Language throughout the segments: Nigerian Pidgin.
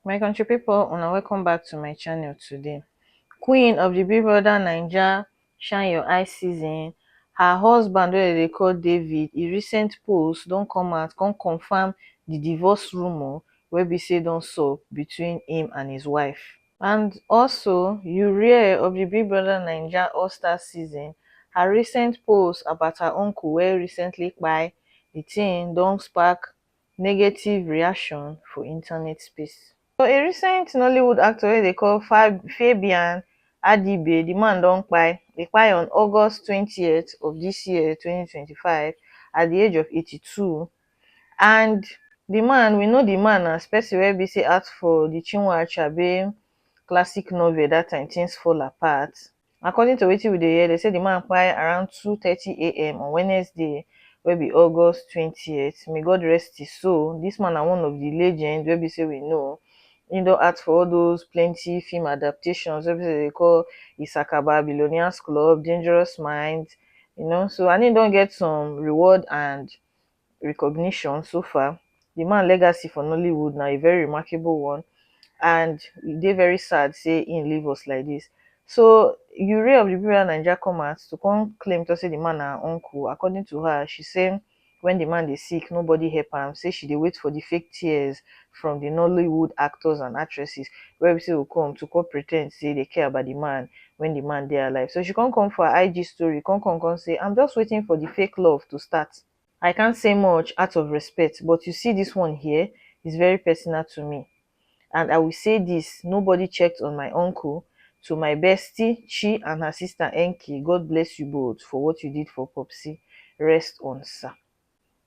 My country pipu una welcome back to my channel today. Queen of the Big Brother Naija shine your eye season, her husband wey dem dey call David, e recent post don come out come confirm the divorce rumour wey be say don sup between him and his wife. And also, Uriel of the Big Brother Naija All Star season, her recent post about her uncle wey recently kpai, the thing don spark negative reaction for internet space. For a recent Nollywood actor wey dey call Fab Fabian Adibe, di man don kpai, e kpai on August twentieth of dis year, twenty twenty five, at di age of eighty two and di man, we know di man as pesin wey be sey act for di Chinua Achebe classic novel dat time, Things Fall Apart. According to wetin we dey hear, dem say di man kpai around two thirty am on Wednesday wey be August twentieth. May God rest his soul. Dis man na one of di legend wey be sey we know. Im don act for all those plenty film adaptations wey be sey dem dey call Isakaba, Billionaires Club, Dangerous Minds, you know. So and im don get some reward and recognition so far, di man legacy for nollywood na a very remarkable one and e dey very sad sey im leave us like dis. So Ure of di Bba Naija come out to come claim talk sey di man na her uncle, according to her she say wen di man dey sick nobody help am, sey she dey wait for di fake tears from di nollywood actors and actresses wey be sey go come to come pre ten d sey dem care about di man wen di man dey alive. So she come come for her IG story come come come say am just waiting for di fake love to start. I can't say much out of respect but you see this one here is very personal to me and I will say this nobody checked on my uncle to my bestie Chi and her sister Enki God bless you both for what you did for Popsy rest on sir.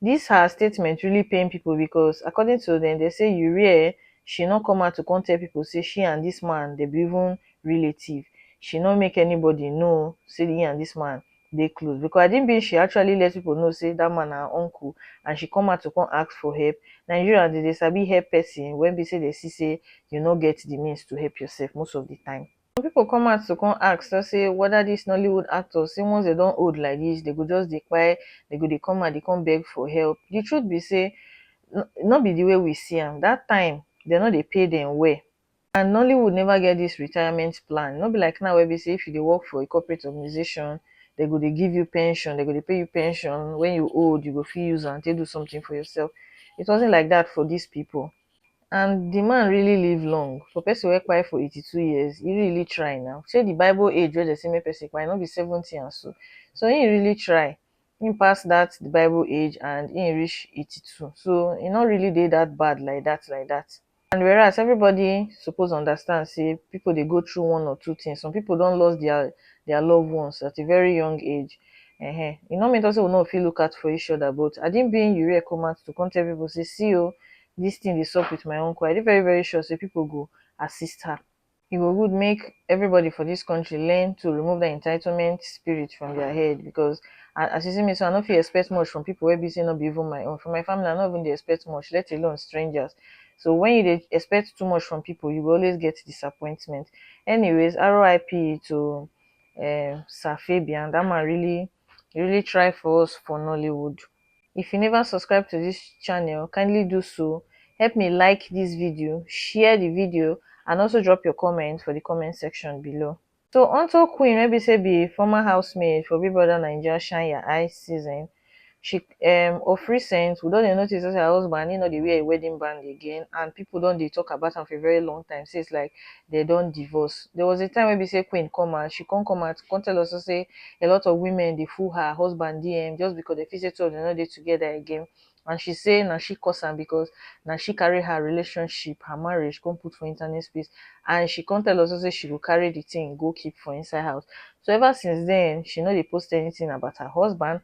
This her statement really pain people because according to them they say Urie she not come out to come tell people say she and this man they be even relative she not make anybody know say he and this man dey close because I didn't been she actually let people know say that man na her uncle and she come out to come ask for help. Nigerians dey dey sabi help person when be say they see say you no get the means to help yourself most of the time. Some people come out to come ask talk say whether this Nollywood actors say once they don old like this they go just dey kpai, they go dey come out dey come beg for help. The truth be say no be the way we see am that time they no dey pay them well And Nollywood never get this retirement plan, no be like now wey be say if you dey work for a corporate organization, dem go dey give you pension, dem go dey pay you pension, when you old you go fit use am take do something for yourself, it wasn't like that for these people and the man really live long, for person wey kpai for eighty two years, he really try na, shey the bible age wey dem say make person kpai no be seventy and so, so him really try, him pass that the bible age and him reach eighty two, so he no really dey that bad like that like that. And whereas everybody suppose understand say people dey go through one or two things, some people don lost their their loved ones at a very young age, um e no mean talk say we no go fit look out for each other but had it been Uriel Komant to come tell people say see o this thing dey sup with my uncle, I dey very very sure say people go assist her. e go good make everybody for dis country learn to remove dat entitlement spirit from their head because as you see me so, I no fit expect much from people wey be say no be even my own. From my family, I no even dey expect much, let alone strangers. So when you dey expect too much from people, you go always get disappointment. Anyways, RIP to um Sir Fabian. That man really, really try for us for Nollywood. if you never subscribe to this channel kindly do so help me like this video share the video and also drop your comment for the comment section below so onto queen wey be say be former housemaid for big brother naija shine your eyes season she um of recent we don dey notice say her husband he no dey wear a wedding band again and people don dey talk about am for a very long time say it's like dem don divorce. There was a time wey be sey Queen come out, she come come out come tell us sey a lot of women dey full her husband DM just because dem feel sey two of dem no dey together again and she say na she cause am because na she carry her relationship, her marriage come put for internet space and she come tell us sey she go carry the thing go keep for inside house. So ever since den, she no dey post anything about her husband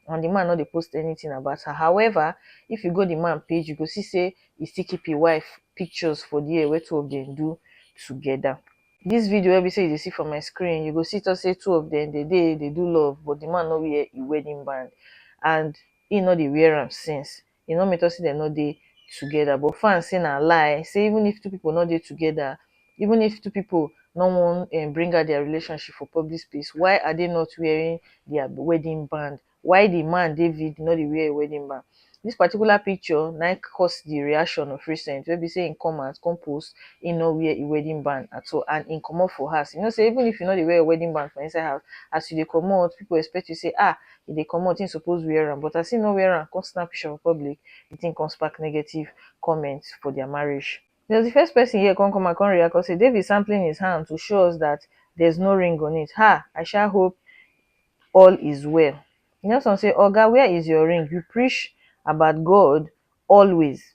and the man no dey post anything about her however if you go the man page you go see say he still keep him wife pictures for there wey two of them do together this video wey be say you dey see for my screen you go see talk say two of them dey dey dey do love but the man no wear him wedding band and he no dey wear am since e no mean talk say dem no dey together but fans say na lie say even if two people no dey together even if two people no wan um bring out their relationship for public space why are they not wearing their wedding band why the man David no dey wear him wedding band this particular picture na him cause the reaction of recent wey be say him come out come post him no wear him wedding band at all and him comot for house you know say even if you no dey wear your wedding band for inside house as you dey comot people expect you say ah e dey comot im suppose wear am but as im no wear am come snap pishure for public di thing come spark negative comment for their marriage. Just di first person here come come out come react come say David sampling his hand to show us that there's no ring on it ha I sha hope all is well Nelson say oga where is your ring you preach about God always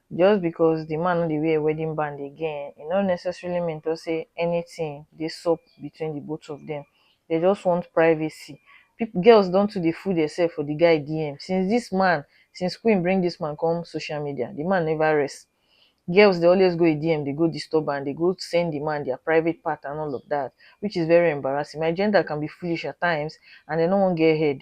Just because the man no dey wear wedding band again, e no necessarily mean to say anything dey sup between the both of them. They just want privacy. People, girls don too dey fool themselves for the guy DM. Since this man, since Queen bring this man come social media, the man never rest. Girls dey always go his DM, dey go disturb am, dey go send the man their private part and all of that, which is very embarrassing. My gender can be foolish at times and they no wan get head.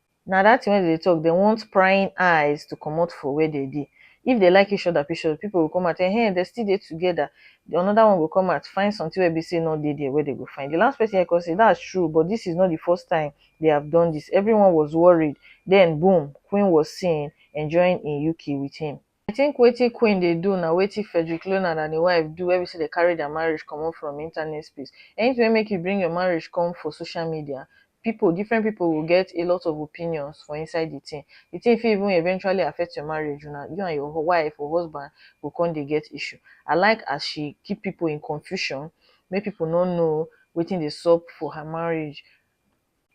na dat thing wey dem dey talk, dem want prying eyes to comot for where dem dey. If dem like each other, pipu go come out ehen dem still dey together. Den another one go come out find something wey be sey e no dey there wey dem go find. De last person here come say dats true but dis is not de first time dey have done dis. Everyone was worried den boom Queen was seen enjoying in UK with him. I think wetin Queen dey do na wetin Frederick Leonard and im wife do wey be say dem carry their marriage comot from internet space. Anything wey make you bring your marriage come for social media, people, different people will get a lot of opinions for inside the thing. The thing fit even eventually affect your marriage, una, you and your wife or husband go come dey get issue. I like as she keep people in confusion, make people no know wetin dey sup for her marriage.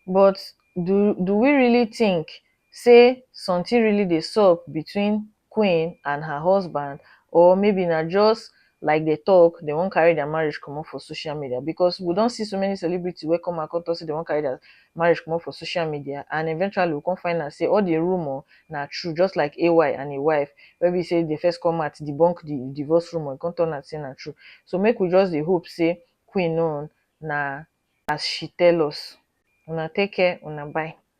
but do do we really think say something really dey sup between Queen and her husband or maybe na just like dey talk dey wan carry their marriage comot for social media because we don see so many celebrity wey come out come talk say dey wan carry their marriage comot for social media and eventually we come find out say all the rumour na true just like AY and him wife wey be say dey first come out debunk the divorce rumour e come turn out say na true so make we just dey hope say Queen own na as she tell us. Una take care, una bye.